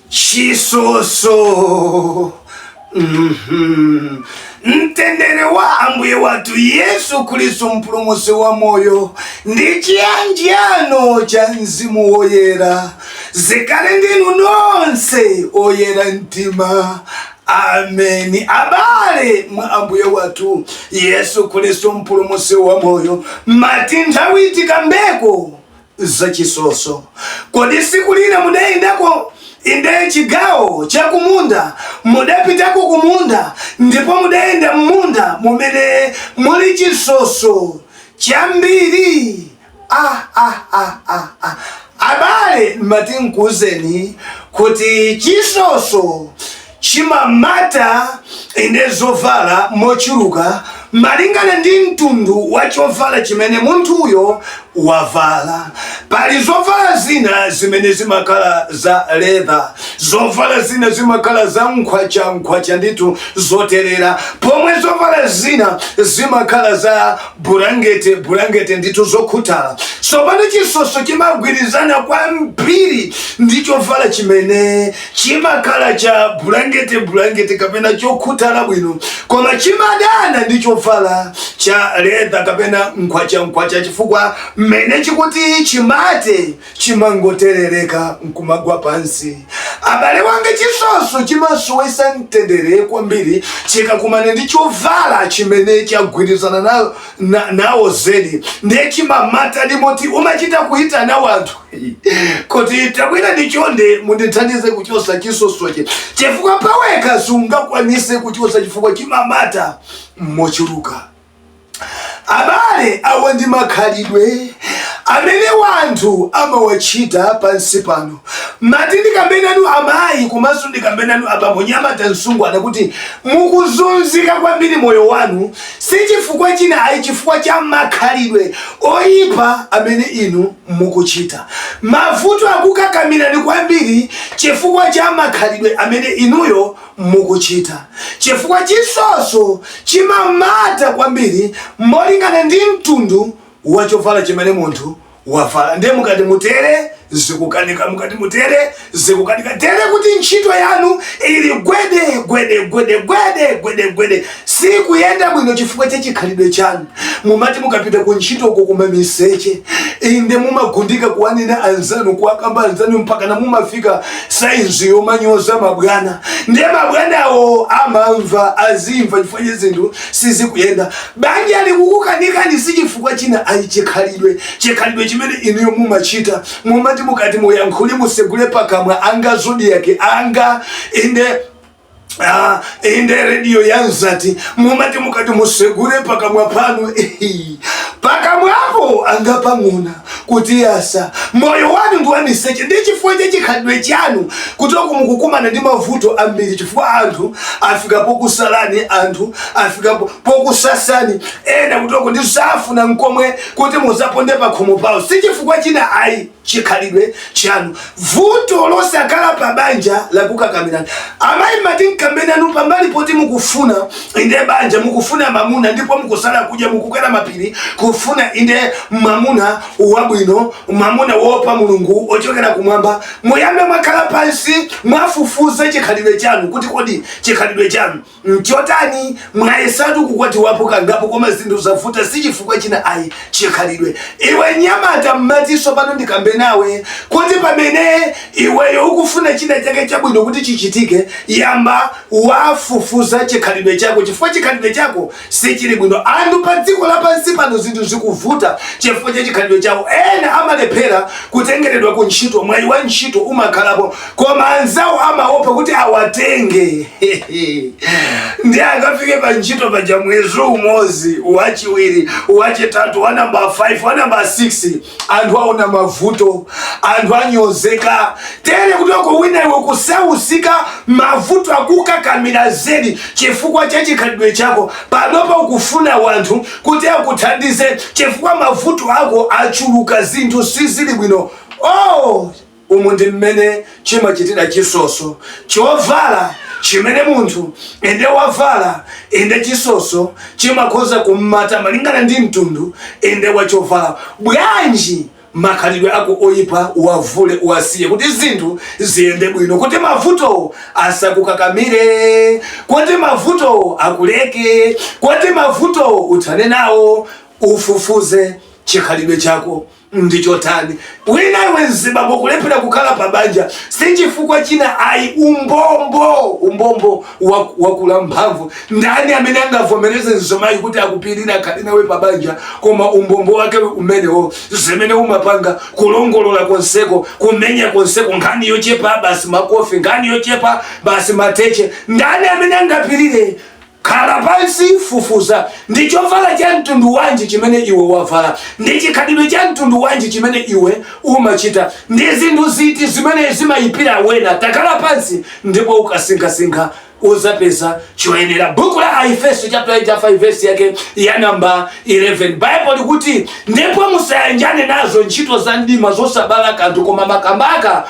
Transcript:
chisoso. mtendere wa ambuye wathu yesu khristu mpulumutsi wa moyo ndi chiyanjano cha mzimu woyera zikhale ndinu nonse oyera mtima ameni abale mwa ambuye wathu yesu khristu mpulumutsi wa moyo mati nthawi tikambeko za chisoso. Kodi siku lina mudayendako inde chigawo cha kumunda mudapitako kumunda ndipo mudayenda mmunda mumene muli chisoso chambiri? Abale mati nkuuzeni kuti chisoso chimamata inde zovala mochuluka malingana ndi mtundu wa chovala chimene munthuyo wavala pali zovala zina zimene zimakhala za leather zovala zina zimakhala za nkhwacha nkhwacha ndithu zoterera pomwe zovala zina zimakhala za bulangete bulangete ndithu zokhuthala tsopano chisoso chimagwirizana kwambiri ndi chovala chimene Chimakhala cha bulangete bulangete kapena chokhuthala bwino koma chimadana ndi chovala cha leather kapena nkhwacha nkhwacha chifukwa mmene chikuti chimate chimangoterereka nkumagwa pansi. Abale wanga chisoso chimasowesa mtendere kwambiri chikakumana ndi chovala chimene chagwirizana nawo zedi ndiye chimamatadi moti umachita kuitana wanthu. kuti tabwerani chonde mundithandize kuchosa chisosochi chifukwa pawekha sungakwanise kuchosa chifukwa chimamata mochuluka abale awa ndi makhalidwe amene wanthu amawachita pansi pano mati ndikambenanu amayi komanso ndikambenanu abambo nyamata msungwana kuti mukuzunzika kwambiri moyo wanu si chifukwa china ayi chifukwa cha makhalidwe oyipa amene inu mukuchita. Mavuto akukakamirani kwambiri chifukwa cha makhalidwe amene inuyo mukuchita chifukwa chisoso chimamata kwambiri molingana ndi mtundu wa chovala chimene munthu wavala ndiye mukati mutere zikukanika mukati mutere Zikukanika tere kuti ntchito yanu ili gwede gwede gwede gwede gwede gwede, sikuyenda bwino chifukwa cha chikhalidwe chanu. Mumati mukapita ku ntchito uko kuma miseche inde mumagundika kuwanena anzanu kuwakamba anzanu mpakana mumafika saizi yomanyoza mabwana, ndiye mabwanawo amamva azimva chifukwa chake zinthu sizikuyenda. Banja likukukanikani si chifukwa china, ayi chikhalidwe, chikhalidwe chimene inuyo mumachita Mumati mukati muyankhule musegule pakamwa anga zodiac anga inde Ah, inde redio yanzati mumati mukati musegule pakamwa panu pakamwapo anga pang'ona kuti yasa moyo wanu ndi wamiseche ndi chifukwa cha chikhalidwe chanu kuteroko mukukumana ndi mavuto ambiri chifukwa anthu afika pokusalani anthu afika pokusasani ena kuteroko ndi safuna nkomwe kuti muzaponde pakhomo pawo si chifukwa china ayi chikhalidwe chanu vuto losakhala pa banja lakukakamirani amayi mmati nkambe nanu pambali poti mukufuna inde banja mukufuna mamuna ndipo mukusala kudya mukukwera mapiri kufuna inde mamuna wabwino mamuna woopa mulungu wochokera kumwamba muyambe mwakhala pansi mwafufuza chikhalidwe chanu kuti kodi chikhalidwe chanu Nchotani? Mwayesatu kukwatiwapo kangapo koma zinthu zavuta sichifukwa china ayi chikhalidwe. Iwe mnyamata mmati tsopano ndikambe nawe kuti pamene iweyo ukufuna china chake chabwino kuti chichitike yamba wafufuza chikhalidwe chako chifukwa chikhalidwe chako sichili bwino. Anthu padziko lapansi pano zinthu zikuvuta chifukwa cha chikhalidwe chako. Ena amalephera kutengeredwa ku ntchito mwayi wa ntchito umakhalapo. koma anzawo amaopa kuti awatenge nde akafike pa ntchito paja mwezi umodzi wachiwiri wachitatu wa namba 5 wa namba 6 anthu aona mavuto anthu anyozeka tere kuteroko wina iwe kusauzika mavuto akukakamira zedi chifukwa cha chikhalidwe chako panopa ukufuna wanthu kuti akuthandize chifukwa mavuto ako achuluka zinthu sizili bwino oh Umu ndi mmene chimachitira chisoso, chovala chimene munthu inde wavala, inde chisoso chimakhoza kummata malingana ndi mtundu inde wa chovala. Bwanji makhalidwe ako oyipa uwavule, uwasiye kuti zinthu ziyende bwino, kuti mavuto asakukakamire, kuti mavuto akuleke, kuti mavuto uthane nawo. Ufufuze chikhalidwe chako ndi chotani wina iwe mzibambo kulephera kukhala pa banja si chifukwa china ayi umbombo umbombo wa- wakula mphamvu ndani amene angavomereze mzimayi kuti akupirire akhale nawe pa banja koma umbombo wake umenewo zimene umapanga kulongolola konseko kumenya konseko nkhani yochepa basi makofi nkhani yochepa basi mateche ndani amene angapirire Khala pansi, fufuza, Ndi chovala cha mtundu wanji chimene iwe wavala? Ndi chikhalidwe cha mtundu wanji chimene iwe umachita? Ndi zinthu ziti zimene zimayipira wena? Takhala pansi ndipo ukasinkhasinkha, udzapeza choyenera. Buku la Aefeso chapter 5 verse yake ya namba 11 Bible likuti ndipo musayanjane nazo ntchito za mdima zosabala kanthu koma makamaka